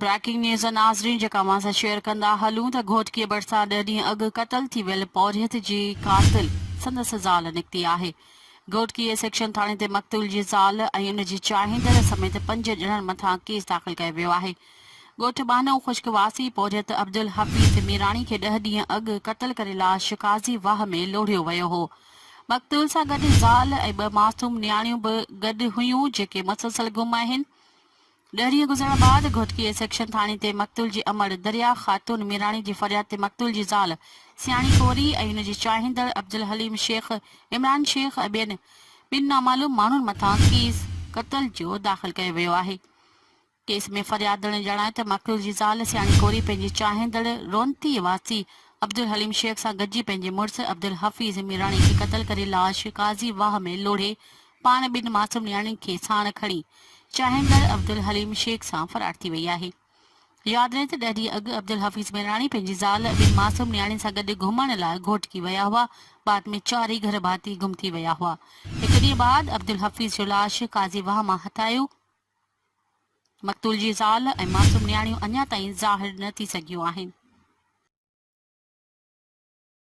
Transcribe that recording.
Breaking news ناظرين جيڪا اوهان سان شيئر ڪندا هلون ته گهوٽڪيء ڀرسان ڏهه ڏينهن اڳ قتل ٿي ويل پورهيت جي قاتل سندس زال نڪتي آهي گهوٽڪيء سيڪشن ٿاڻي تي مقتول جي زال ۽ ان جي چاهيندڙ سميت پنج ڄڻن مٿان ڪيس داخل ڪيو ويو آهي ڳوٺ ٻانهو خشڪ واسي پورهيت عبدالحفيظ ميراڻي کي ڏهه ڏينهن اڳ قتل ڪري لاش قاضي واهه ۾ لوڙهيو ويو هو مقتول سان گڏ زال ۽ ٻه معصوم نياڻيون به گڏ هيون جيڪي مسلسل گم آهن ڏهه ڏينهن گذرڻ بعد گهوٽڪي اي سيڪشن ٿاڻي تي مقتول جي امڙ دريا خاتون ميراڻي جي فرياد تي مقتول جي زال سياڻي ڪوري ۽ هن جي چاهيندڙ عبدالحليم شيخ، عمران شيخ ۽ ٻين ٻن نامعلوم ماڻهن مٿان ڪيس قتل جو داخل ڪيو ويو آهي. ڪيس ۾ فريادڻي ڄاڻايو ته مقتول جي زال سياڻي ڪوري پنهنجي چاهيندڙ رونتي واسي عبدالحليم شيخ سان گڏجي پنهنجي مڙس عبدالحفيظ ميراڻي کي قتل ڪري لاش قاضي واهه ۾ لوڙهي پاڻ ٻن معصوم نياڻين کي ساڻ کڻي چاهيندڙ عبدالحليم شيخ سان فرار ٿي وئي آهي. ياد رهي ته ڏهه ڏينهن اڳ عبدالحفيظ ميراڻي پنهنجي زال ٻن معصوم نياڻين سان گڏ گهمڻ لاء گهوٽڪي ويا هئا، بعد ۾ چارئي گهر ڀاتي گم ٿي ويا هئا، هڪ ڏينهن بعد عبدالحفيظ جو لاش قاضي واهه مان هٿايو، مقتول جي زال ۽ معصوم نياڻيون اڃا تائين ظاهر نه ٿي سگهيون آهن.